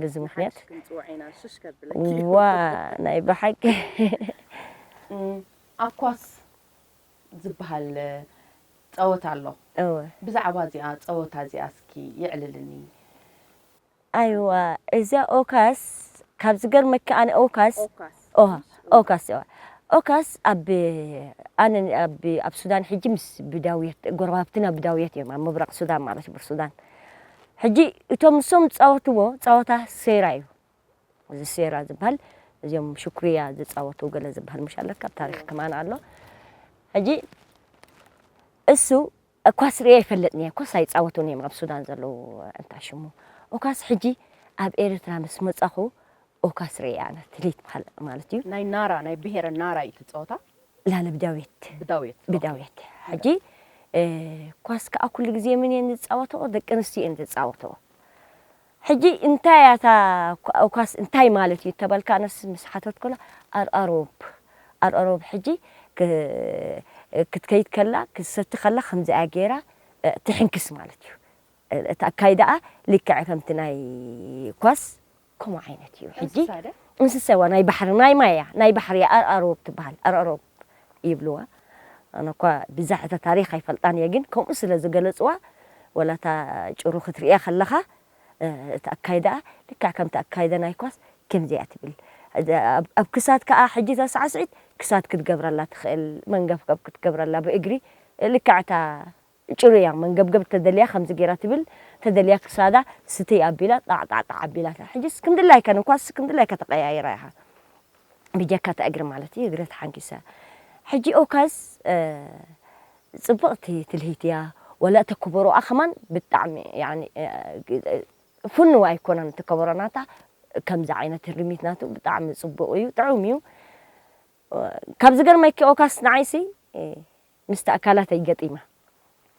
ብዚ ምክንያት ዋእ ናይ ብሓቂ። ኣብ ኳስ ዝብሃል ጸወታ ኣሎ እወ። ብዛዕባ እዚኣ ጸወታ እዚኣ እስኪ የዕልልኒ። ኣይዋ እዛ ኦካስ ካብ ዝገርመኪ ኣነ ኦካስ ኦሃ ኦካስ ኦሃ ኦካስ ኣብ ኣነ ኣብ ኣብ ሱዳን ሕጂ ምስ ብዳውየት ጎረባብትና ብዳውየት እዮም ኣብ ምብራቕ ሱዳን ማለት እዩ ቡርሱዳን ሕጂ እቶም ንሶም ዝጻወትዎ ጸወታ ሴራ እዩ እዚ ሴራ ዝበሃል እዚኦም ሽኩርያ ዝጻወቱ ገለ ዝበሃል ሙሽ ኣለካ ኣብ ታሪኽ ከማን ኣሎ ሕጂ እሱ ኳስ ርእየ ኣይፈልጥን'የ ኮስ ኣይጻወቱን እዮም ኣብ ሱዳን ዘለዉ ኣንታይ ሽሙ ኦካስ ሕጂ ኣብ ኤረትራ ምስ መጻኹ ኦካስ ርእየ ኣነ ትሊት በሃል ማለት እዩ። ናይ ናራ ናይ ብሄረ ናራ እዩ እቲ ጸወታ። ላለ ብዳውየት ብዳውየት ብዳውየት ሕጂ ኳስ ከኣ ኩሉ ግዜ መን እየን ዝጻወትኦ ደቂ ኣንስትዮ እየን ዝጻወትኦ። ሕጂ እንታይ እያ እታ ኳስ እንታይ ማለት እዩ እተበልካ ኣነስ ምስ ሓተትኩላ ኣርኣሮብ ኣርኣሮብ ሕጂ ክትከይድ ከላ ክትሰቲ ከላ ከምዚ እያ ጌራ ትሕንክስ ማለት እዩ እቲ ኣካይዳኣ ልክዕ ከምቲ ናይ ኳስ ከምኡ ዓይነት እዩ ሕጂ እንስሳ እንስሳ እዋ ናይ ባሕሪ ናይ ማይ እያ ናይ ባሕሪ እያ ኣርኣሮብ ትበሃል ኣርኣሮብ ይብልዋ ኣነ እኳ ብዛሕ እታ ታሪኽ ኣይፈልጣን እየ ግን ከምኡ ስለ ዝገለጽዋ ወላ እታ ጭሩ ክትርእያ ከለኻ እቲ ኣካይዳኣ ልክዕ ከምቲ ኣካይዳ ናይ ኳስ ከምዚ እያ ትብል ኣብ ክሳድ ከኣ ሕጂ እታ ሳዕስዒት ክሳድ ክትገብረላ ትኽእል መንገፍገፍ ክትገብረላ ብእግሪ ልክዕ እታ ጭርያ መንገብገብ እንተደልያ ከምዚ ጌራ ትብል እንተደልያ ክሳዳ ስትይ ኣቢላ ጣዕጣዕጣዕ ኣቢላታ ሕጂስ ክምድላይካ ንኳስ ክምድላይካ ተቀያይራ ኢኻ ብጀካ እታ እግሪ ማለት እዩ እግረ ተሓንጊሰ ሕጂ ኦካስ ጽብቅቲ ትልሂት እያ ወላ እቲ ኮቦሮኣ ከማን ብጣዕሚ ያኒ ፍኑው ኣይኮነን እቲ ከበሮ ናታ ከምዚ ዓይነት ሪሚት ናቱ ብጣዕሚ ጽቡቅ እዩ ጥዑም እዩ ካብ ዝገርመኪ ኦካስ ንዓይሲ ምስቲ ኣካላተይ ገጢመ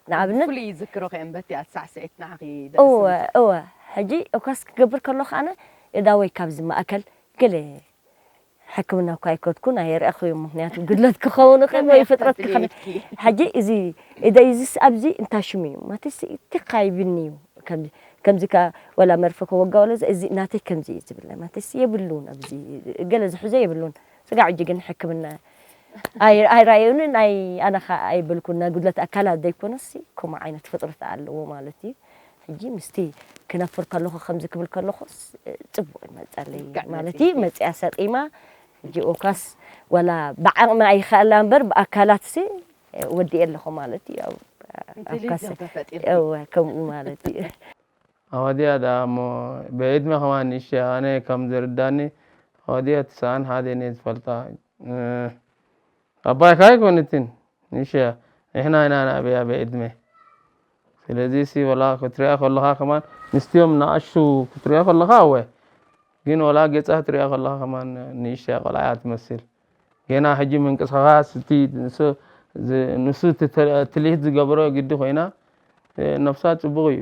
ንኣብነት። ብፍሉይ ይዝክሮኺ እየን በቲኣ ትሳዕስዒት ንዓኺ እወ ደእስምኪ። እወ ሕጂ ኦካስ ክገብር ከለኹ ኣነ እዳወይ ካብዚ ማእከል ገለ ሕክምና እኳ ኣይከድኩን ኣየርኣኹዮን ምኽንያቱ ጉድለት ክኸውን ይኽእል ከመይ ወይ ኢኺ ፍጥረት ተብሊ ክኸውን ኢድኪ? ሕጂ እዚ እደይ እዚስ ኣብዚ እንታይ ሽሙ እዩ ማትስ ቲኻ ይብልኒ እዩ ከምዚ ከምዚ ከኣ ወላ መርፌ ክወጋ ወላ እዚ እዚ ናተይ ከምዚ እዩ ዝብለኒ ማትስ የብሉን ኣብዚ ገለ ዝሕዞ የብሉን ስጋዕ ሕጂ ግን ሕክምና ኣይራኣዩንን ኣይ ኣነ ከኣ ኣይበልኩን ናይ ጉድለት ኣካላት ዘይኮነሲ ከምኡ ዓይነት ፍጥረት ኣለዎ ማለት እዩ ሕጂ ምስቲ ክነፍር ከለኹ ከምዚ ክብል ከለኹስ ጽቡቕ ይመጸለይ ማለት እዩ መጽያ ሰጢማ ሕጂ ኦካስ ወላ ብዓቕሚ ኣይኸኣላ እምበር ብኣካላትሲ ወዲኤ ኣለኹ ማለት እዩ ኣብ ኣፍካስ ከምኡ ማለት እዩ ኣወዲኣ ደኣ እሞ ብዕድመ ከማን ንእሽቶ እያ ኣነ ከም ዝርዳኒ ኣወዲኣ ትስዓን ሓደን እየ ዝፈልጣ እህ ኣባይካ ኣይኮነትን ንእሽቶ እያ ንሕና ኢና ንዕብያ ብዕድመ ስለዚ ሲ ወላ ክትሪኣ ከለኻ ከማን ምስቲኦም ንኣሽቱ ክትሪኦ ከለኻ ኣወ ግን ወላ ገጻ ክትሪኣ ከለኻ ከማን ንእሽተያ ቆልዓ እያ ትመስል ገና ሕጂ ምንቅስቓስ እቲ ንሱ እቲ ትልሂት ዝገበሮ ግዲ ኮይና ነፍሳ ጽቡቕ እዩ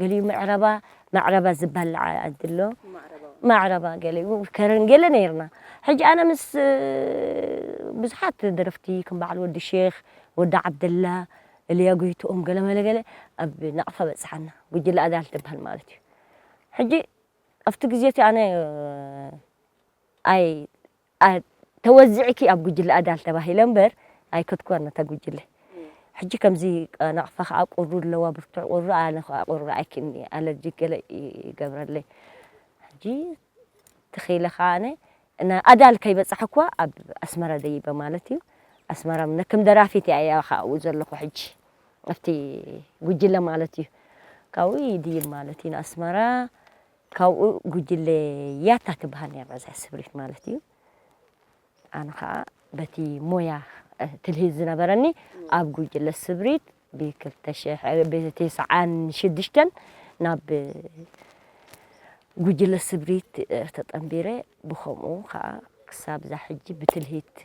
ገሊኡ መዕረባ ማዕረባ ዝባላዕ ዓዲ ኣሎ ማዕረባ ገሊኡ ከረን ገለ ነይርና ሕጂ ኣነ ምስ ብዙሓት ደረፍቲ ከም በዓል ወዲ ሼኽ ወዲ ዓብደላ እልያ ጎይትኦም ገለመለ ገለ ኣብ ናቕፋ በጽሓና ጉጅለ ኣዳል ትባሃል ማለት እዩ ሕጂ ኣብቲ ግዜ እቲ ኣነ ኣይ ኣይ ተወዚዕኪ ኣብ ጉጅለ ኣዳል ተባሂለ እምበር ኣይከድኩዋን ነታ ጉጅለ ሕጂ ከምዚ ናቕፋ ከኣ ቁሪ ኣለዋ ብርቱዕ ቁሪ ኣነ ከኣ ቁሪ ኣይክእልን'የ ኣለርጂክ ገለ ይገብረለይ ሕጂ ተኺለ ከኣ ኣነ ን ኣዳል ከይበጻሕኩዋ ኣብ ኣስመራ ደይበ ማለት እዩ ኣስመራ ምነ ከም ደራፊት እያ ከኣ ኣብኡ ዘለኹ ሕጂ ኣብቲ ጉጅለ ማለት እዩ ካብኡ ይድይብ ማለት እዩ ንኣስመራ ካብኡ ጉጅለ ያታ ትብሃል ኔራ እዚኣ ስብሪት ማለት እዩ ኣነ ከኣ በቲ ሞያ ትልሂት ዝነበረኒ ኣብ ጉጅለ ስብሪት ብ ክልተ ሽሕ ብ ትስዓን ሽዱሽተን ናብ ጉጅለ ስብሪት ተጠምቢረ ብከምኡ ከኣ ክሳብ እዛ ሕጂ ብትልሂት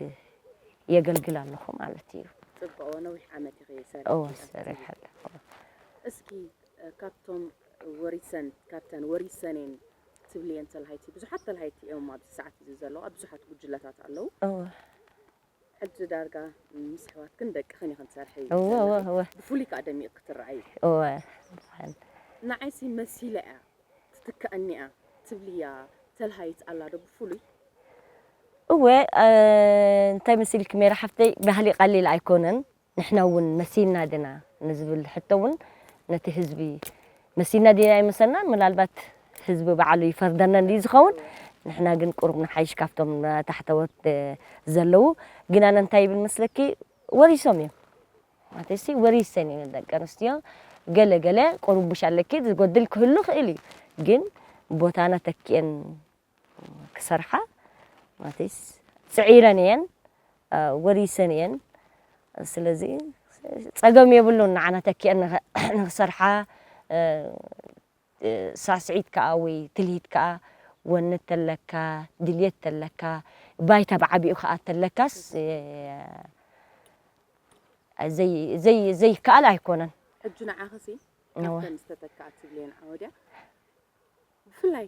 የገልግል ኣለኩ ማለት እዩ። ጽብቅ ነዊሕ ዓመት ኢኺ ሰሪሕኪ። እወ ሰሪሐ ኣለኩ። እስኪ ካብቶም ወሪሰን ካብተን ወሪሰኔን ትብልየን ተላሃይቲ ብዙሓት ተላሃይቲ እዮም ኣብዚ ሰዓት እዚ ዘለዋ ብዙሓት ጉጅለታት ኣለው እወ ሕጂ ዳርጋ ምስ ኣሕዋትክን ደቅኽን ኢኽን ትሰርሒ እወ እወ ዘለኺ እወ ብፍሉይ ከዓ ደሚቕኪ ትረኣዪ እወ ብሓን ንዓይሲ መሲላ እያ ትትክኣኒ እያ ትብልያ ተላሃይት ኣላ ዶ ብፍሉይ እወ እንታይ መሲልኪ ሜራ ሓፍተይ ባህሊ ቀሊል ኣይኮነን ንሕና እውን መሲልና ድና ንዝብል ሕቶ እውን ነቲ ህዝቢ መሲልና ድና ኣይመሰልናን ምናልባት ህዝቢ ባዕሉ ይፈርደና እንድዩ ዝኸውን ንሕና ግን ቁሩብ ንሓይሽ ካብቶም ታሕተዎት ዘለዉ ግን ኣነ እንታይ ይብል መስለኪ ወሪሶም እዮም ማለትሲ ወሪሰን እየን ደቂ ኣንስትዮ ገለ ገለ ቁሩብ ቡሽ ኣለኪ ዝጎድል ክህሉ ይኽእል እዩ ግን ቦታና ተኪኤን ክሰርሓ ማቲስ ጽዒረን እየን ወሪሰን እየን ስለዚ ጸገም የብሉን ንዓና ተኪአን ንክሰርሓ ሳስዒት ከዓ ወይ ትልሂት ከዓ ወነ ተለካ ድልየት ተለካ ባይታ ብዓቢኡ ከዓ ተለካስ ዘይ ዘይ ዘይከኣል ኣይኮነን ሕጂ ንዓኽሲ ካብተን ዝተተክኣ ትብልየን ዓወድያ ብፍላይ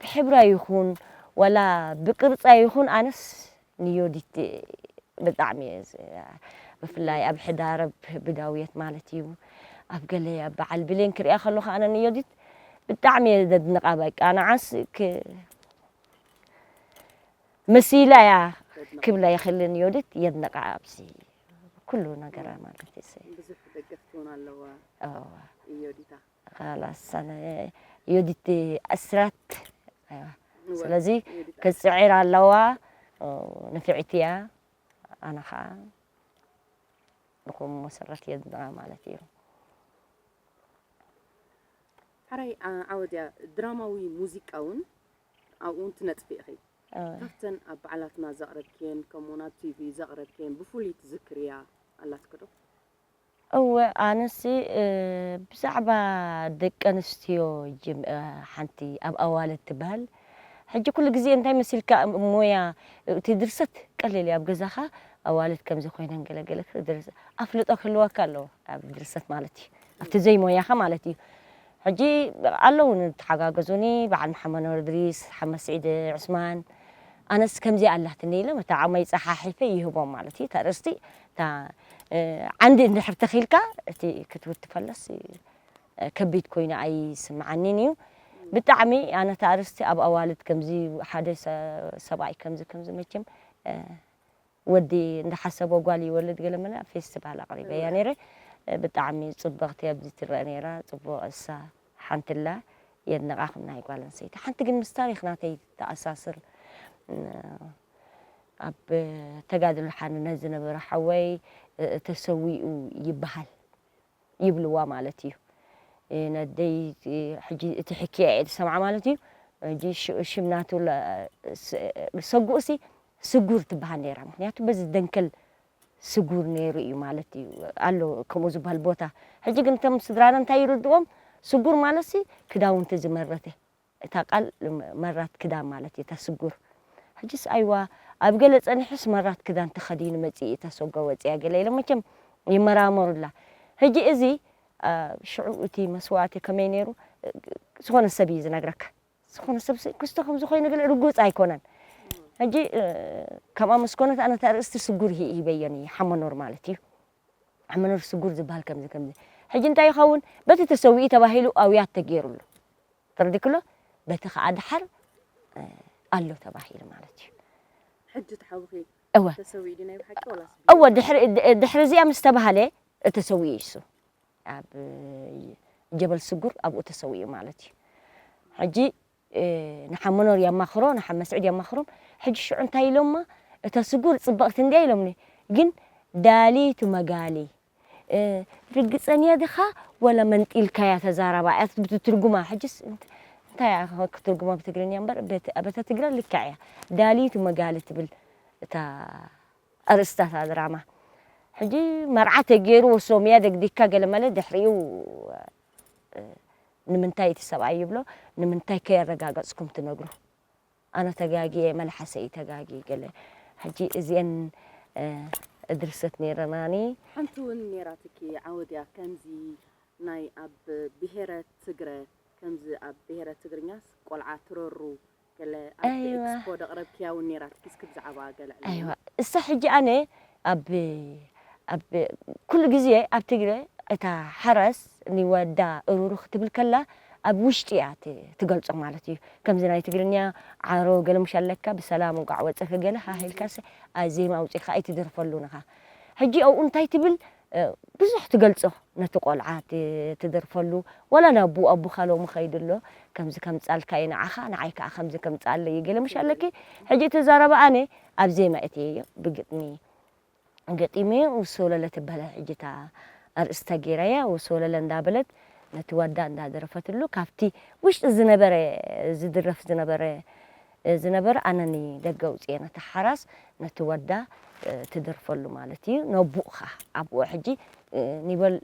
ብሕብራ ይኩን ዋላ ብቅርጻ ይኩን ኣነስ ንዮዲት ብጣዕሚ እየ ብፍላይ ኣብ ሕዳር ኣብ ብዳውየት ማለት እዩ ኣብ ገለ ኣብ በዓል ብሌን ክሪኣ ከለኩ ኣነ ንዮዲት ብጣዕሚ እየ ዘድንቃ በቃ ንዓስ ክ መሲላ እያ ክብላ ይክል ንዮዲት የድንቃ ኣብዚ ኩሉ ነገራ ማለት እዩ ብዙሕ ደገፍቲ ውን ኣለዋ ዮዲታ ኻላስ ኣነ ዮዲት ኣስራት ኣይዋ ስለዚ ክትጽዒር ኣለዋ ንፍዕቲ እያ ኣነ ኸኣ ብኹም መሰረት የድንቓ ማለት እዩ። ሐራይ ዓወት እያ ድራማዊ ሙዚቃውን ኣብኡውን ትነጥፊ ኢኺ ካብተን ኣብ በዓላትና ዘቕረብክየን ከምኡውን ኣብ ቲቪ ዘቕረብክየን ብፍሉይ ትዝክርያ ኣላትኪ ዶ? እወ ኣነሲ ብዛዕባ ደቂ ኣንስትዮ ሓንቲ ኣብ ኣዋልድ ትበሃል ሕጂ ኩሉ ግዜ እንታይ መሲልካ ሞያ እቲ ድርሰት ቀሊል እዩ ኣብ ገዛኻ ኣዋልድ ከምዚ ኮይነን ገለ ገለ ኣፍልጦ ክህልወካ ኣለዎ ኣብ ድርሰት ማለት እዩ ኣብቲ ዘይሞያኻ ማለት እዩ ሕጂ ኣለዉ ንተሓጋገዙኒ በዓል መሓመድ ኑር እድሪስ ሓመድ ስዒድ ዑስማን ኣነስ ከምዚኣ ኣላትኒ ኢሎም እቲ ዓቕመይ ጸሓሒፈ ይህቦም ማለት እዩ እቲ ኣርእስቲ እታ ዓንዲ እንድሕር ተኺልካ እቲ ክትውቲ ከሎስ ከቢድ ኮይኑ ኣይስምዓኒን እዩ ብጣዕሚ ኣነ እቲ ኣርእስቲ ኣብ ኣዋልድ ከምዚ ሓደ ሰብኣይ ከምዚ ከምዚ መቸም ወዲ እንዳሓሰቦ ጓል ይወልድ ገለ ምለ ፌስቲቫል ኣቕሪበያ ነይረ ብጣዕሚ ጽብቕቲ ኣብዚ ትረኣ ነይራ ጽቡቕ እሳ ሓንትለ የድንቃክም ናይ ጋል ኣንሰይቲ ሓንቲ ግን ምስ ታሪክ ናተይ ተኣሳስር ኣብ ተጋድሎ ሓርነት ዝነበረ ሓወይ ተሰዊኡ ይብሃል ይብልዋ ማለት እዩ ነደይ ሕጂ እቲ ሕክያ እየ ዝሰምዓ ማለት እዩ ሕጂ ሽም ናቱ ሰጉኡሲ ስጉር ትብሃል ነይራ ምክንያቱ በዚ ደንከል ስጉር ነይሩ እዩ ማለት እዩ ኣሎ ከምኡ ዝበሃል ቦታ ሕጂ ግን እቶም ስድራና እንታይ ይርድዎም ስጉር ማለትሲ ክዳውንቲ ዝመረተ እታ ቃል መራት ክዳን ማለት እዩ እታ ስጉር ሕጂስ ኣይዋ ኣብ ገለ ጸኒሑስ መራት ክዳን ተኸዲኑ መጺኡ እታ ሰጓ ወጺኣ ገለ ኢሎም መቸም ይመራመሩላ ሕጂ እዚ ሽዑ እቲ መስዋእቲ ከመይ ነይሩ ዝኾነ ሰብ እዩ ዝነግረካ ዝኾነ ሰብ ሲ ክስቶ ከምዚ ኮይኑ ግን ርጉጽ ኣይኮነን ሕጂ ከምኣ ምስ ኮነት ኣነ እቲ ኣርእስቲ ስጉር ሂ ሂበዮ ን ሓመኖር ማለት እዩ ሓመኖር ስጉር ዝብሃል ከምዚ ከምዚ ሕጂ እንታይ ይኸውን በቲ ተሰዊኡ ተባሂሉ ኣውያት ተጌሩሉ ተረዲክሎ በቲ ከኣ ደሓር ኣሎ ተባሂሉ ማለት እዩ ሕጂ እቲ ሓውኺ እወ ተሰዊኡ ድዩ ናይ ብሓቂ ወላስ እወ ድሕሪ ድሕሪ እዚኣ ምስ ተባህለ ተሰዊኡ እዩ እሱ ኣብ ጀበል ስጉር ኣብኡ ተሰዊኡ ማለት እዩ ሕጂ ንሓ መኖር የማኽሮ ንሓ መስዕድ የማኽሮም ሕጂ ሽዑ እንታይ ኢሎማ እታ ስጉር ጽብቕቲ እንድያ ኢሎምኒ ግን ዳሊቱ መጋሊ ርግጸንያ ድኻ ወላ መንጢልካያ ተዛረባ እያ ብትትርጉማ ሕጅስ እንታይ እያ ክትርጉማ ብትግርኛ እምበር በታ ትግረ ልክዕ እያ ዳሊቱ መጋሊ ትብል እታ ኣርእስታ እታ ድራማ ሕጂ መርዓ ተጌርዎ ሶምያ ደግዲግካ ገለ ማለት ድሕሪኡ ንምንታይ እቲ ሰብኣይ ይብሎ ንምንታይ ከየረጋገጽኩም ትነግሩ ኣነ ተጋጊየ መልሓሰይ እዩ ተጋጊ ገለ ሕጂ እዚኤን እድርሰት ነይረናኒ ሓንቲ እውን ነይራትኪ ዓወድያ ከምዚ ናይ ኣብ ብሄረ ትግረ ከምዚ ኣብ ብሄረ ትግርኛስ ቆልዓ ትረሩ ገለ ኣብቲ ኤክስፖ ደቕረብክያ ውን ኔራትኪ እስኪ ብዛዕባኣ ገለ ዕለልና። ኣይዋ እሳ ሕጂ ኣነ ኣብ ኣብ ኩሉ ግዜ ኣብ ትግረ እታ ሓራስ ንወዳ እሩሩ ክትብል ከላ ኣብ ውሽጢ እያ ትገልጾ ማለት እዩ ከምዚ ናይ ትግርንያ ዓሮ ገለ ሙሽ ኣለካ ብሰላም እንቋዕ ወጸኪ ገለ ሃህ ኢልካስ ኣዜማ ኣውጺእካ ኣይትደርፈሉን እኻ ሕጂ ኣብኡ እንታይ ትብል ብዙሕ ትገልጾ ነቲ ቆልዓ ትደርፈሉ ወላ ናቡኡ ኣቡካ ሎሚ ከይዱ ኣሎ ከምዚ ከምጻልካ እዩ ንዓካ ንዓይ ከኣ ከምዚ ከምጻኣለይ እዩ ገለ ምሽ ኣለኪ ሕጂ እቲ ዘረባ ኣነ ኣብ ዜማ እትየዮ ብግጥሚ ገጢመ ውስወለለ ትበሃል ሕጂ እታ ኣርእስታ ጌራያ ውስወለለ እንዳ በለት ነቲ ዋዳ እንዳ ደረፈትሉ ካብቲ ውሽጢ ዝነበረ ዝድረፍ ዝነበረ ዝነበረ ኣነ ንደገ ኣውጺኤ ነታ ሓራስ ነቲ ወዳ ትደርፈሉ ማለት እዩ ነቡእካ ኣቡኡ ሕጂ ኒበል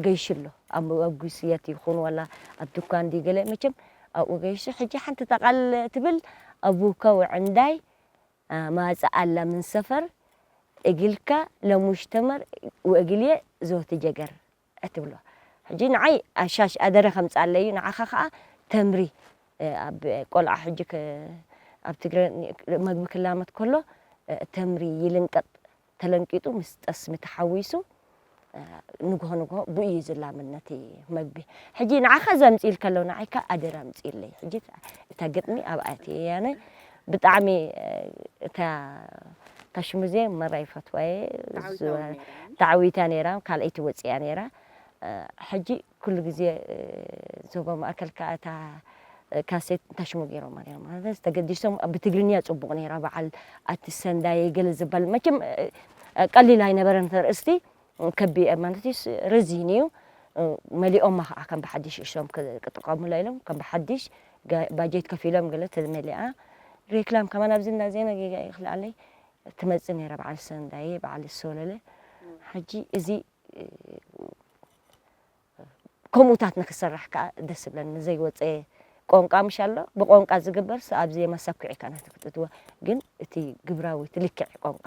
ገይሹ ኣሎ ኣብ ኣጉስየት ይኩን ዋላ ኣብ ዱካን ድዩ ገለ መቸም ኣብኡ ገይሹ ሕጂ ሓንቲ ጠቃል ትብል ኣቡካ ውዕንዳይ ማጽእ ኣላ ምን ሰፈር እግልካ ለሙሽ ተመር ውእግልየ ዞቲ ጀገር እትብሎ ሕጂ ንዓይ ኣሻሽ ኣደረ ከምጻለይ እዩ ንዓኻ ከኣ ተምሪ ኣብ ቆልዓ ሕጂ ኣብ ትግረ መግቢ ክላመት ከሎ ተምሪ ይልንቀጥ ተለንቂጡ ምስ ጠስሚ ተሓዊሱ ንግሆ ንግሆ ብኡ እዩ ዝላምን ነቲ መግቢ ሕጂ ንዓኻ ዘምጽኢልካ ኣለዉ ንዓይካ ኣደራ ኣምጽኢለይ ሕጂ እታ ግጥሚ ኣብኣ እትየያነ ብጣዕሚ እታ እታ ሽሙዜ መራ ይፈትዋ እየ ተዓዊታ ነይራ ካልኣይቲ ወፂኣ ነይራ ሕጂ ኩሉ ግዜ ዞባ ማእከል ከዓ እታ ካሴት እንታይ ሽሙ ገይሮማ ነይሮም ማለት ተገዲሶም ብትግርኛ ጽቡቕ ነይራ በዓል ኣቲ ሰንዳየ ገለ ዝበል መቸም ቀሊል ኣይነበረን ተርእስቲ ከቢኤ ማለትስ ረዚን እዩ መሊኦማ ከኣ ከም ብሓዲሽ እሶም ክጥቀሙላ ኢሎም ከም ብሓዲሽ ባጀት ከፊሎም ገለ ተመሊኣ ሬክላም ከማን ኣብዚ እንዳ ዜና ጌጋ ይኽልኣለይ ትመጽእ ነይራ በዓል ሰንዳየ በዓል ሰለለ ሕጂ እዚ ከምኡታት ንክሰራሕ ከዓ ደስ ብለን ንዘይወፀ ቆንቃ ምሽ ኣሎ ብቆንቃ ዝግበርስ ኣብዚ የመሰኩዒ ካናት ክትእትወ ግን እቲ ግብራዊ እቲ ልክዕ ቆንቃ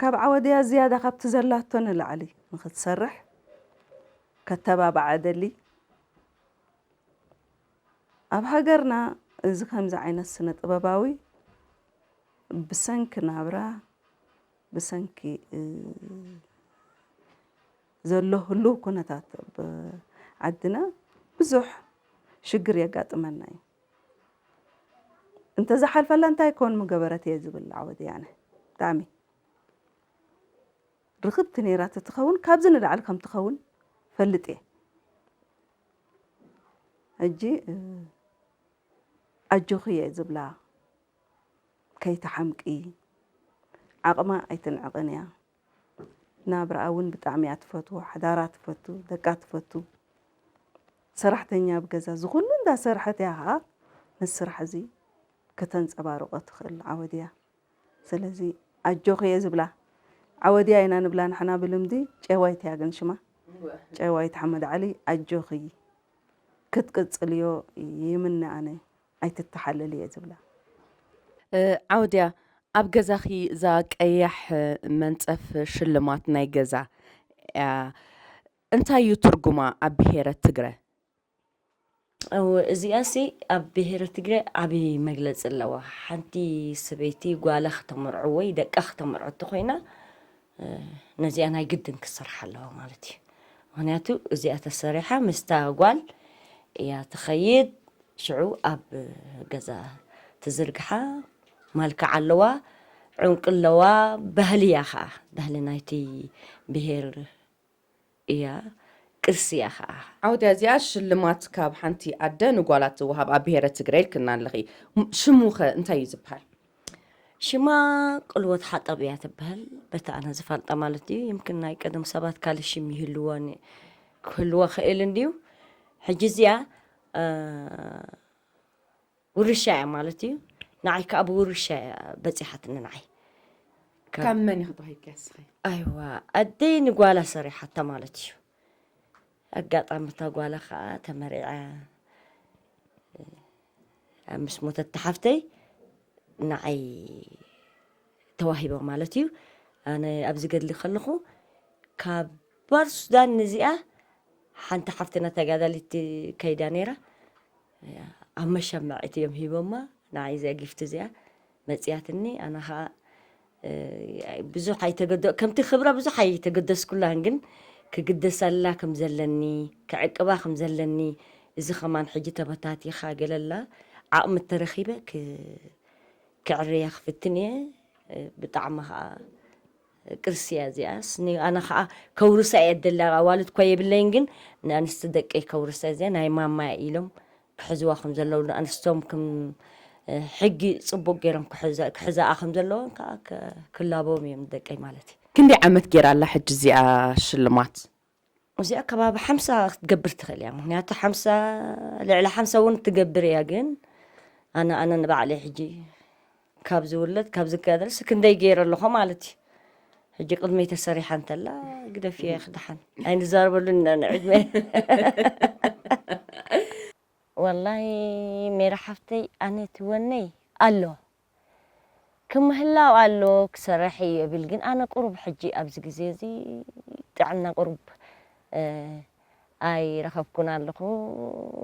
ካብ ዓወደያ ዝያዳ ካብቲ ዘላቶ ንላዕሊ ንክትሰርሕ ከተባብዓ እደሊ። ኣብ ሃገርና እዚ ከምዚ ዓይነት ስነ ጥበባዊ ብሰንኪ ናብራ ብሰንኪ ዘሎ ህሉው ኩነታት ዓድና ብዙሕ ሽግር የጋጥመና እዩ። እንተዝሓልፈላ እንታይ ኮን ምገበረት እየ ዝብል ዓወት ወያነ ብጣዕሚ ርኽብቲ ነይራ ተትኸውን ካብዚ ንላዕሊ ከም ትኸውን ፈልጥ እየ ሕጂ ኣጆኺ እየ ዝብላ ከይትሓምቂ ዓቕማ ኣይትንዕቕን እያ ናብራኣ ውን ብጣዕሚ እያ ትፈትዎ ሓዳራ ትፈቱ ደቃ ትፈቱ ሰራሕተኛ ኣብ ገዛ እዚ ኩሉ እንዳሰርሐት እያ ከኣ ነዚ ስራሕ እዚ ከተንጸባርቆ ትክእል ዓወት እያ ስለዚ ኣጆኪ እየ ዝብላ ዓወድያ ኢና ንብላ ንሕና ብልምዲ ጨዋይት እያ ግን ሽማ ጨዋይት ሓመድ ዓሊ ኣጆኪ ክትቅጽልዮ ይምነ ኣነ። ኣይትተሓለል እየ ዝብላ። ዓውድያ ኣብ ገዛኺ እዛ ቀያሕ መንጸፍ ሽልማት ናይ ገዛ እያ እንታይ እዩ ትርጉማ ኣብ ብሄረ ትግረ? እው እዚኣሲ ኣብ ብሄረ ትግረ ዓቢ መግለጺ ኣለዋ ሓንቲ ሰበይቲ ጓላ ክተመርዖ ወይ ደቃ ክተመርዖ ተኾይና ነዚኣ ናይ ግድን ክትስራሕ ኣለዋ ማለት እዩ ምክንያቱ እዚኣ ተሰሪሓ ምስታ ጓል እያ ትኸይድ ሽዑ ኣብ ገዛ ትዝርግሓ ማልክዕ ኣለዋ ዑንቂ ኣለዋ ባህሊ እያ ከዓ ባህሊ ናይቲ ብሄር እያ ቅርሲ እያ ከኣ። ዓውደ እዚኣ ሽልማት ካብ ሓንቲ ኣደ ንጓላ ትወሃብ ኣብ ብሄረ ትግረ ኢልክና ኣለኺ ሽሙ ከ እንታይ እዩ ዝብሃል? ሽማ ቅልወት ሓጠብ እያ ትብሀል በቲ ኣነ ዝፈልጣ ማለት እዩ ይምክን ናይ ቀደም ሰባት ካልእ ሽም ይህልወን ክህልወ ክእል እንድዩ ሕጂ እዚኣ ውርሻ እያ ማለት እዩ ንዓይ ከዓ ብውርሻ እያ በፂሓትኒ ንዓይ ካብ መን ኢኺ ተዋሂብኪ ኣስኺ ኣይዋ ኣደይ ንጓላ ሰሪሓታ ማለት እዩ ኣጋጣሚ እታ ጓላ ከዓ ተመሪዐ ኣብ ምስ ሞተት ተሓፍተይ ንዓይ ተዋሂቦ ማለት እዩ ኣነ ኣብዚ ገድሊ ከለኹ ካብ ባር ሱዳን ንዚኣ ሓንቲ ሓፍትና ተጋዳሊት ከይዳ ነይራ ኣብ መሸማዒት እዮም ሂቦማ ንዓይ እዚኣ ጊፍቲ እዚኣ መፅያትኒ ኣነ ከዓ ብዙሕ ኣይተገደ ከምቲ ክብራ ብዙሕ ኣይተገደስኩላን ግን ክግደሰላ ከም ዘለኒ ክዕቅባ ከም ዘለኒ እዚ ከማን ሕጂ ተበታቲኻ ገለላ ዓቕሚ ተረኺበ ክዕርያ ክፍትን እየ ብጣዕሚ ከዓ ቅርሲ እያ እዚኣስ ን ኣነ ከኣ ከውርሳ እየ ዝደሊ ኣብ ኣዋልድ እኳ የብለይን ግን ን ኣንስቲ ደቀይ ከውርሳ እዚኣ ናይ ማማ እያ ኢሎም ክሕዝዋ ከም ዘለዉ ን ኣንስቶም ክም ሕጊ ጽቡቅ ገይሮም ክሕዛኣ ከም ዘለወን ከኣ ክላበዎም እዮም ንደቀይ ማለት እዩ። ክንደይ ዓመት ጌራ ኣላ ሕጂ እዚኣ ሽልማት? እዚኣ ከባቢ ሓምሳ ክትገብር ትኽእል እያ ምክንያቱ ሓምሳ ልዕሊ ሓምሳ እውን ትገብር እያ ግን ኣነ ኣነ ንባዕለይ ሕጂ ካብ ዝውለድ ካብ ዝጋደልሲ ክንደይ ገይረ ኣለኹ ማለት እዩ ሕጂ ቅድመይ ተሰሪሓ እንተላ ግደፍ እየ ክድሓን ኣይንዛረበሉ ኢና ንዕድመ ወላሂ ሜራ ሓፍተይ ኣነ ትወነይ ኣሎ ክምህላው ኣሎ ክሰራሕ ኢዩ እብል ግን ኣነ ቁሩብ ሕጂ ኣብዚ ግዜ እዚ ጥዕና ቁሩብ ኣይረኸብኩን ኣለኹ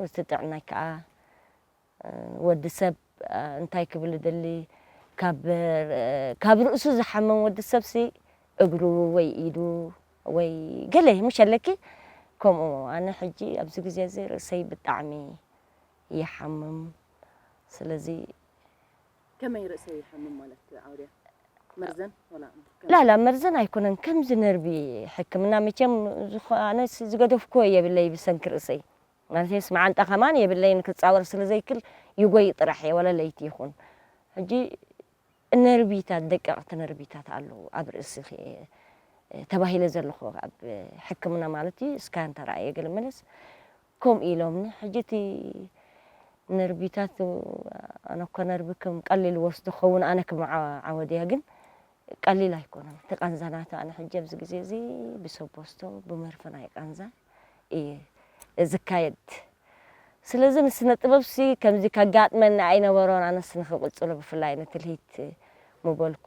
እቲ ጥዕናይ ከኣ ወዲ ሰብ እንታይ ክብል እደሊ ካብ ካብ ርእሱ ዝሓምም ወዲ ሰብሲ እግሩ ወይ ኢዱ ወይ ገለ ምሸለኪ ከምኡ ኣነ ሕጂ ኣብዚ ግዜ እዚ ርእሰይ ብጣዕሚ ይሓምም ስለዚ ከመይ ርእሰይ ይሓምም ማለት ኣውድያ መርዘን ዋላ ከም ላላ መርዘን ኣይኮነን ከምዚ ነርቢ ሕክምና መቸም ዝኾነስ ዝገደፍኩዎ የብለይ ብሰንኪ ርእሰይ ማለተይስ መዓንጣ ከማን የብለይን ክጻወር ስለ ዘይክል ይጎይ ጥራሕ እየ ዋላ ለይቲ ይኹን ሕጂ ነርቢታት ደቀቕቲ ነርቢታት ኣለዉ ኣብ ርእስኺ እየ ተባሂለ ዘለኹ ኣብ ሕክምና ማለት እዩ እስካን ተራእየ ገለ መለስ ከምኡ ኢሎምኒ ሕጂ እቲ ነርቢታት ኣነ እኮ ነርቢ ከም ቀሊል እወስዶ ክኸውን ኣነ ከም ዓወድያ ግን ቀሊል ኣይኮነን እቲ ቃንዛ ናቱ ኣነ ሕጂ ኣብዚ ግዜ እዚ ብሰቦስቶ ብመርፈ ናይ ቃንዛ እየ ዝካየድ ስለዚ ንስነ ጥበብሲ ከምዚ ከጋጥመኒ ኣይነበሮን ኣነስ ንክቅጽሎ ብፍላይ ንትልሂት ምበልኩ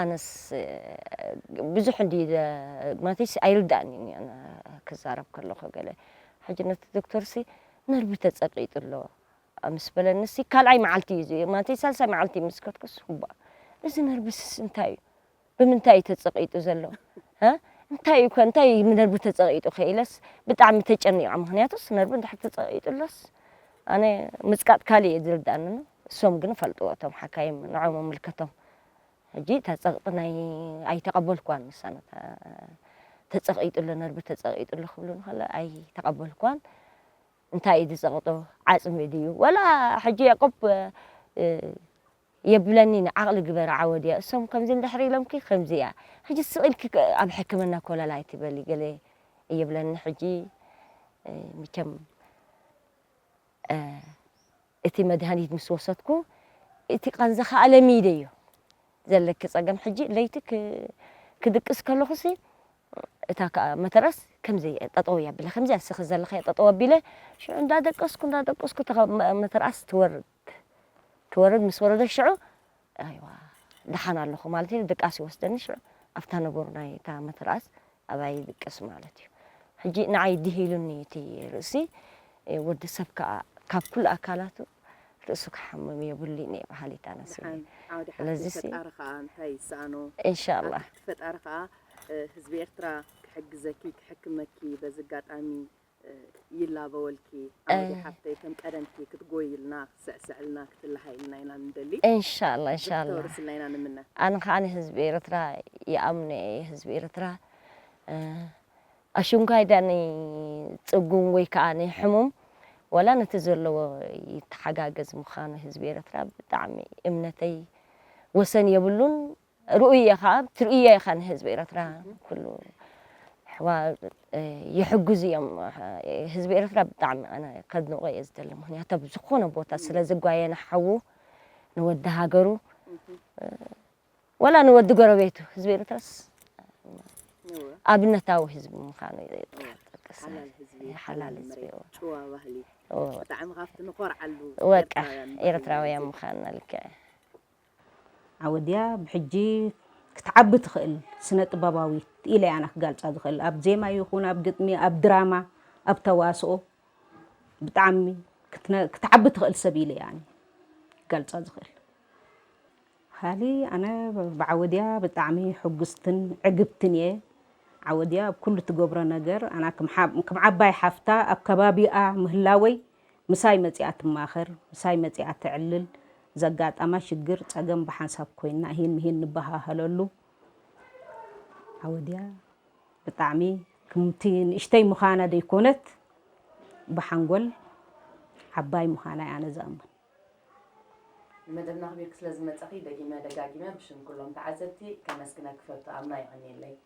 ኣነስ ብዙሕ እንድየ ማለተይሲ ኣይርድኣንን እዩ ኣነ ክዛረብ ከለኹ ገለ ሕጂ ነቲ ዶክተርሲ ነርቭ ተጸቂጡ ኣሎ ምስ በለኒሲ ካልኣይ መዓልቲ እዩ እዚ ማለተይ ሳልሳይ መዓልቲ ምስ ከድኩስ እባ እዚ ነርቭስስ እንታይ እዩ ብምንታይ እዩ ተጸቂጡ ዘሎ እ እንታይ እዩ ከ እንታይ እዩ ነርቭ ተጸቂጡ ከ ኢለስ ብጣዕሚ ተጨኒቐ ምክንያቱስ ነርቭ እንድሕር ተጸቂጡ ኣሎስ ኣነ ምጽቃጥ ካልእ እዩ ዝርድኣኒ እሶም ግን ፈልጥዎ እቶም ሓካይም ንዖም ኣምልከቶም ሕጂ እታ ጸቕጢ ናይ ኣይተቐበልክዋን ንሳ ነታ ተጸቒጡ ኣሎ ነርቢ ተጸቒጡ ኣሎ ክብሉኒ ከሎ ኣይተቐበልክዋን እንታይ እዩ ዝጸቕጦ ዓጽሚ ድዩ ወላ ሕጂ ያቆብ የብለኒ ንዓቕሊ ግበረ ዓወድ እያ እሶም ከምዚ እንድሕሪ ኢሎምኪ ከምዚ እያ ሕጂ ስቕ ኢልኪ ኣብ ሕክምና ኮለል ኣይትበሊ ገለ እየብለኒ ሕጂ ምቸም እቲ መድሃኒት ምስ ወሰድኩ እቲ ቃንዛ ክኣ ለሚደ እዮ ዘለኪ ጸገም ሕጂ ለይቲ ክድቅስ ከለኩሲ እታ ክኣ መተረስ ከምዚ ጠጠው እያ ኣቢላ ከምዚ ኣስኪ ዘለክዮ ጠጠው ኣቢለ ሽዑ እንዳ ደቀስኩ እንዳ ደቀስኩ እታ መተርኣስ ትወርድ ትወርድ ምስ ወረደት ሽዑ ኣይዋ ደሓን ኣለኩ ማለት ኢለ ድቃስ ይወስደኒ ሽዑ ኣብታ ነገሩ ናይ እታ መተርኣስ ኣባይ ይብቅስ ማለት እዩ ሕጂ ንዓይ ዲሂሉኒ እዩ እቲ ርእሲ ወዲ ሰብ ከኣ ካብ ኩሉ ኣካላቱ ርእሱ ክሓምም የብሉይን እየ በሃሊት ኣነ ስለ ደሓን ዓውደ ሓቂ ስለዚ ሲ ፈጣሪ ከኣ እንታይ ይሰኣኖ ኣብ ኢንሻኣላህ ትሕቲ ፈጣሪ ከኣ ህዝቢ ኤርትራ ክሕግዘኪ ክሕክመኪ በዚ ኣጋጣሚ ይላበወልኪ ኣመዴ ሓፍተይ ከም ቀደምኪ ክትጎይልና ክትስዕስዕልና ክትላሃይልና ኢና ንደሊ እንሻላ እንሻላ ብዙሕ ክተውርስልና ኢና ንምነ። ኣነ ከኣ ህዝቢ ኤረትራ ይኣምኖ እየ ህዝቢ ኤረትራ ኣሽንኳይ ድኣ ን ጽጉም ወይ ከኣ ን ሕሙም ዋላ ነቲ ዘለዎ ይተሓጋገዝ ምካኑ ህዝቢ ኤረትራ ብጣዕሚ እምነተይ ወሰን የብሉን ርኡይ ኢኻ ትርእዮ ኢኻ ንህዝቢ ኤረትራ ኩሉ ኣሕዋት ይሕግዙ እዮም ህዝቢ ኤርትራ ብጣዕሚ ኣነ ከድንቆ እየ ዝደሊ ምክንያቱ ኣብ ዝኾነ ቦታ ስለ ዝጓየ ንሓዉ ንወዲ ሃገሩ ወላ ንወዲ ጎረቤቱ ህዝቢ ኤርትራስ ኣብነታዊ ህዝቢ ምዃኑ ሓላል ህዝቢ ጭዋ ባህሊ ብጣዕሚ ካብቲ ንኾርዓሉ ወቃ ኤርትራውያን ምዃንና ልክዕ ዓወድያ ብሕጂ ክትዓቢ ትኽእል ስነ-ጥበባዊት ኢለ'የ ኣነ ክጋልጻ ዝኽእል። ኣብ ዜማ ይኹን ኣብ ግጥሚ፣ ኣብ ድራማ፣ ኣብ ተዋስኦ ብጣዕሚ ክትዓቢ ትኽእል ሰብ ኢለ'የ ኣነ ክጋልጻ ዝኽእል። ካሊእ ኣነ ብዓወድያ ብጣዕሚ ሕጉስትን ዕግብትን'የ። ዓወድያ ኣብ ኩሉ ትገብሮ ነገር ኣና ክም ዓባይ ሓፍታ ኣብ ከባቢኣ ምህላወይ ምሳይ መጺኣ ትማኸር፣ ምሳይ መጺኣ ተዕልል፣ ዘጋጣማ ሽግር፣ ጸገም ብሓንሳብ ኮይንና እሂን ምሂን ንበሃሃለሉ ዓወድያ። ብጣዕሚ ክምቲ ንእሽተይ ምዃና ደይኮነት ብሓንጎል ዓባይ ምዃና'ያ ኣነ ዝኣምን። ንመደብና ኣኽቢርኪ ስለዝመጸኺ ደጊመ ደጋጊመ ብሽም ኩሎም ተዓዘብቲ ከመስግነኪ እፈቱ። ኣምና የቐንየለይ።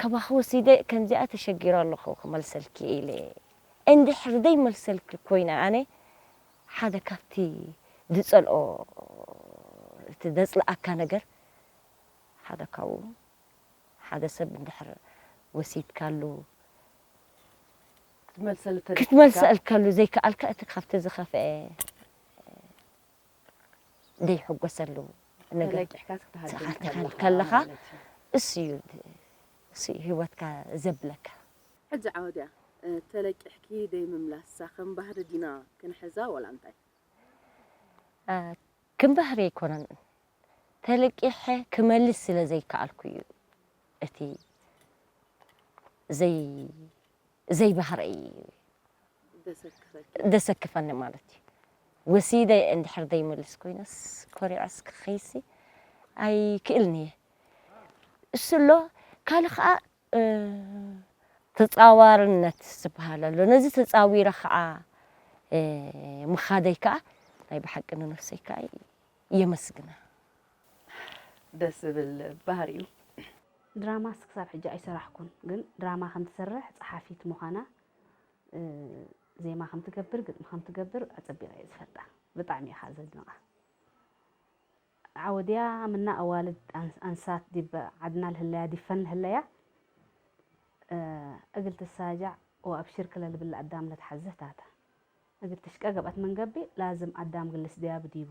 ካባኺ ወሲደ ከምዚኣ ተሸጊረ ኣለኹ ክመልሰልኪ ኢለ እንድሕር ዘይመልሰልኪ ኮይነ ኣነ ሓደ ካብቲ ዝጸልኦ እቲ ዘጽልኣካ ነገር ሓደ ካብኡ ሓደ ሰብ እንድሕር ወሲድካሉ ክትመልሰልከሉ ዘይከኣልካ እቲ ካብቲ ዝኸፍኤ ዘይሕጎሰሉ ነገር ተለቂሕካ ከለኻ እሱ እዩ ሂወትካ ዘብለካ። ሕጂ ዓወድያ ተለቂሕኪ ደይምምላሳ ከም ባህሪ ዲና ክንሕዛ ወላ እንታይ? ከም ባህሪ ኣይኮነን ተለቂሐ ክመልስ ስለ ዘይከኣልኩ እዩ እቲ ዘይ ዘይባህረይ ደሰክፈኒ ማለት እዩ ወሲደ እንድሕር ደይምልስ ኮይነስ ኮሪዐስ ክኸይሲ ኣይክእልን እየ እሱ ኣሎ ካልእ ኸዓ ተፃዋርነት ዝባሃል ኣሎ ነዚ ተፃዊረ ኸዓ ምኻደይ ከዓ ናይ ብሓቂ ንነፍሰይ ከዓ የመስግና። ደስ ዝብል ባህሪ እዩ። ድራማስ ክሳብ ሕጂ ኣይሰራሕኩን ግን ድራማ ከም ትሰርሕ ጸሓፊት ምዃና ዜማ ከም ትገብር ግጥሚ ከም ትገብር ኣጸቢቐ እየ ዝፈልጣ ብጣዕሚ እየ ከዓ ዘድንቓ ዓወድያ ምና ኣዋልድ ኣንሳት ዲብ ዓድና ልህለያ ዲፈን ልህለያ እግል ትሳጃዕ ወኣብሽርክ ለልብል ኣዳም ለትሓዝህ ታተ እግል ትሽቀ ገብአት ምንገብእ ላዝም ኣዳም ግልስ ድያብ ዲቡ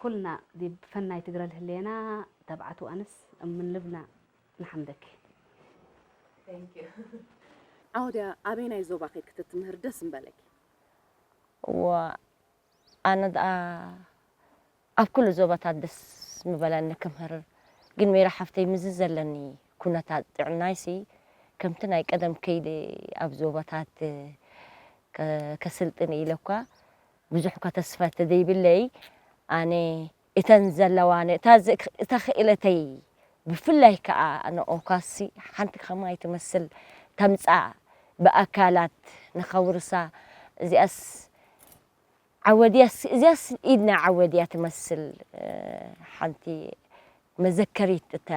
ኩልና ዲብ ፈናይ ትግረ ልህሌና ተብዓት ወኣንስ እምን ልብና ንሓምደኪ። Thank you። ዓወት ኣበየናይ ዞባ ኬድኪ ተትምህሪ ደስ ምበለኪ? እወ ኣነ ድኣ ኣብ ኩሉ ዞባታት ደስ ምበለኒ ክምህር ግን ሜሪ ሓፍተይ ምስዚ ዘለኒ ኩነታት ጥዕናይሲ ከምቲ ናይ ቀደም ከይደ ኣብ ዞባታት ከስልጥን ኢለኳ ብዙሕ'ኳ ተስፋ ተዘይብለይ፣ ኣነ እተን ዘለዋኒ እታ እታ ክእለተይ ብፍላይ ከኣ ንኦካሲ ሓንቲ ከማይ ትመስል ከምጻ ብኣካላት ንኸውርሳ እዚኣስ ዓወድያስ እዚኣስ ኢድና ዓወድያ ትመስል ሓንቲ መዘከሪት እታ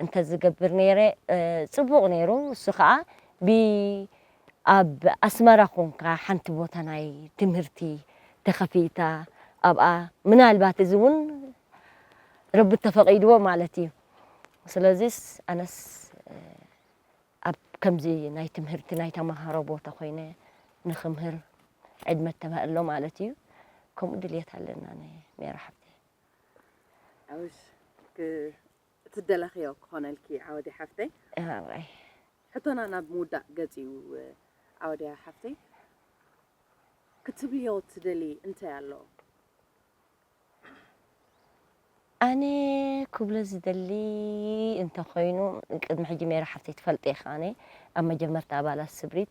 እንተዝገብር ነይረ ጽቡቅ ነይሩ እሱ ከኣ ብ ኣብ ኣስመራ ኮንካ ሓንቲ ቦታ ናይ ትምህርቲ ተከፊታ ኣብኣ ምናልባት እዚ ውን ረቢ እተፈቂድዎ ማለት እዩ ስለዚስ ኣነስ ኣብ ከምዚ ናይ ትምህርቲ ናይ ተማሃሮ ቦታ ኮይነ ንክምህር ዕድመ እተባህሎ ማለት እዩ ከምኡ ድልየት ኣለና ሜራ ሓብተይ። ዓውሽ እትደለኽዮ ክኾነልኪ ዓወዲ ሓፍተይ እህራይ ሕቶና ናብ ምውዳእ ገጽ እዩ ዓወድያ ሓፍተይ ክትብልዮ ትደሊ እንታይ ኣሎ ኣነ ክብሎ ዝደሊ እንተኾይኑ ቅድሚ ሕጂ ሜራ ሓፍተይ ትፈልጥ ኢኻ ኣነ ኣብ መጀመርታ ኣባላት ስብሪት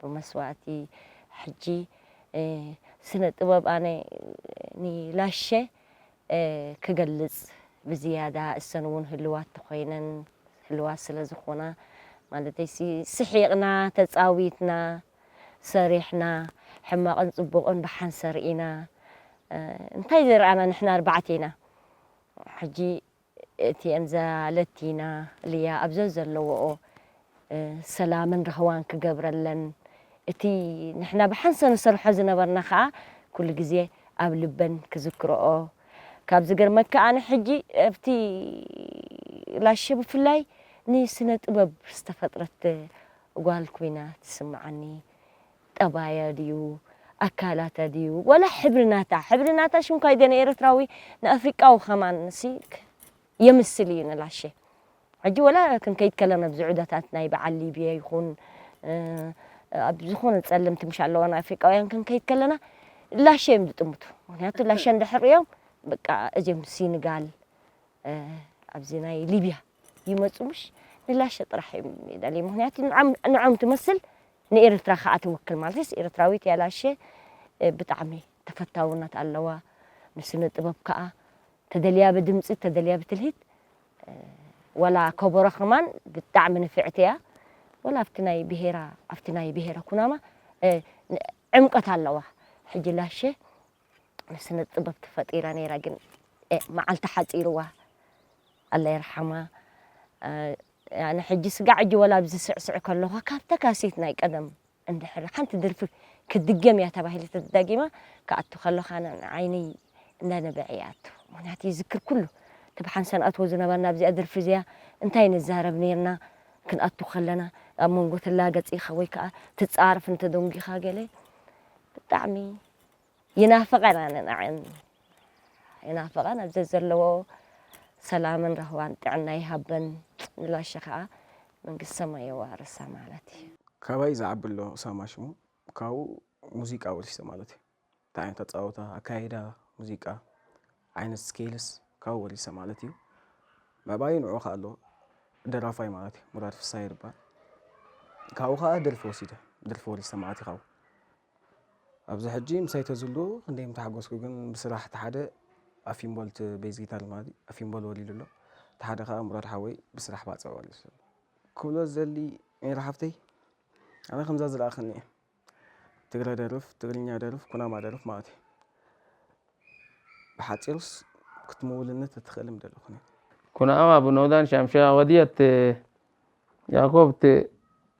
ብመስዋእቲ ሕጂ ስነ ጥበብ ኣነ ንላሸ ክገልጽ ብዝያዳ እሰን ውን ህልዋት ተኮይነን ህልዋት ስለ ዝኮና ማለተይሲ ስሒቅና ተጻዊትና ሰሪሕና ሕማቅን ጽቡቅን ብሓንሰር ኢና እንታይ ዘይረኣና ንሕና ኣርባዕተ ኢና ሕጂ እቲኤን ዘለቲና ልያ ኣብ ዘዘለዎኦ ሰላምን ራህዋን ክገብረለን እቲ ንሕና ብሓንሰ ንሰርሖ ዝነበርና ከኣ ኩሉ ግዜ ኣብ ልበን ክዝክሮኦ ካብ ዝገርመካ ኣነ ሕጂ ኣብቲ ላሸ ብፍላይ ንስነ ጥበብ ዝተፈጥረት ጓል ኮይና ትስምዓኒ ጠባያ ድዩ ኣካላታ ድዩ ዋላ ሕብሪ ናታ ሕብሪ ናታ ሽንኳይ ገነ ኤረትራዊ ንኣፍሪቃዊ ከማን ሲ የምስል እዩ ንላሸ ሕጂ ወላ ክንከይድ ከለና ኣብዚ ዑደታት ናይ በዓል ሊብያ ይኹን ኣብ ዝኾነ ጸለምቲ ምሽ ኣለዋ ናይ ኣፍሪቃውያን ክንከይድ ከለና ላሸ እዮም ዝጥምቱ ምክንያቱ ላሸ እንድሕር እዮም በቃ እዚኦም ሲንጋል ኣብዚ ናይ ሊብያ ይመጹ ምሽ ንላሸ ጥራሕ እዮም ይደልዩ ምክንያቱ ንዖም ትመስል ንኤርትራ ከኣ ትውክል ማለትስ ኤርትራዊት እያ ላሸ ብጣዕሚ ተፈታውነት ኣለዋ ንስነ ጥበብ ከኣ ተደልያ ብድምጺ ተደልያ ብትልሂት ወላ ከበሮ ከማን ብጣዕሚ ንፍዕቲ እያ ወላ ኣብቲ ናይ ብሄራ ኣብቲ ናይ ብሄረ ኩናማ ዕምቀት ኣለዋ ሕጂ ላሸ ስነጥበብ ተፈጢራ ነይራ ግን መዓልታ ሓጺርዋ ኣላ ይርሓማ ኣነ ሕጂ ስጋዕ ሕጂ ወላ ኣብዚ ስዕስዕ ከለኳ ካብታ ካሴት ናይ ቀደም እንድሕር ሓንቲ ድርፊ ክትድገም እያ ተባሂለ ተዳጊማ ክኣቱ ከለካ ዓይነይ እንዳነበዐ ይኣቱ ምክንያቱ ይዝክር ኩሉ እቲ ብሓንሳ ንኣትዎ ዝነበርና ኣብዚኣ ድርፊ እዚኣ እንታይ ንዛረብ ነርና ክንኣቱ ከለና ኣብ መንጎ ትላገጽ ኢኻ ወይ ከዓ ትጻርፍ እንተደንጒኻ ገለ ብጣዕሚ ይናፍቐን ኣነ ንዐኣን ይናፍቐን ኣብ ዘዘለዎ ሰላምን ራህዋን ጥዕና ይሃበን ንላሸ ከኣ መንግስቲ ሰማይ የዋርሳ ማለት እዩ። ካባይ ዝዓቢ ኣሎ ሳማ ሽሙ ካብኡ ሙዚቃ ወሲደ ማለት እዩ እቲ ዓይነት ኣጻውታ ኣካይዳ ሙዚቃ ዓይነት ስኬልስ ካብኡ ወሪሰ ማለት እዩ ምዕባዩ ንዑ ከኣ ኣሎ ደራፋይ ማለት እዩ ሙራድ ፍሳሃ ይርባል ካብኡ ከኣ ደርፊ ወሲደ ደርፊ ወሪሰ ማለት እዩ ካብኡ ኣብዚ ሕጂ ምሳይ ተዝሉ ክንደይ ምተሓጎስኩ ግን ብስራሕ እቲ ሓደ ኣፊምቦል እቲ ቤዝ ጊታር ልማዲ ኣፊምቦል ወሊሉ ኣሎ እቲ ሓደ ከኣ ሙራድ ሓወይ ብስራሕ ባጽዕ ወሊሱ ኣሎ ክብሎ ዝደሊ ሜሪ ሓፍተይ ኣነ ከምዛ ዝረኣኽኒ እየ ትግረ ደርፍ ትግርኛ ደርፍ ኩናማ ደርፍ ማለት እዩ ብሓጺሩስ ክትምውልኒ ተትኽእል ምደለኹኒ ኩናማ ብኖዳን ሻምሻ ወድየት ያኮብት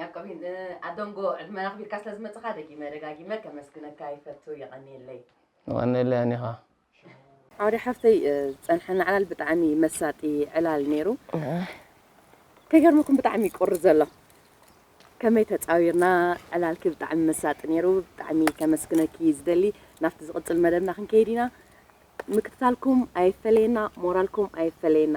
ያቆቢን ኣዶንጎ ዕድመ ኣኽቢርካ ስለ ዝመጽኻ ደጊመ ደጋጊመ ከመስግነካ ይፈቱ የቐንየለይ። የቐንየለይ ኣኒኻ። ዓውደ ሓፍተይ ዝጸንሐና ዕላል ብጣዕሚ መሳጢ ዕላል ነይሩ ከይገርመኩም ብጣዕሚ ቁሪ ዘሎ ከመይ ተጻዊርና ዕላልኪ ብጣዕሚ መሳጢ ነይሩ ብጣዕሚ ከመስግነኪ ዝደሊ ናብቲ ዝቕጽል መደብና ክንከይድ ኢና ምክትታልኩም ኣይፈለየና ሞራልኩም ኣይፈለየና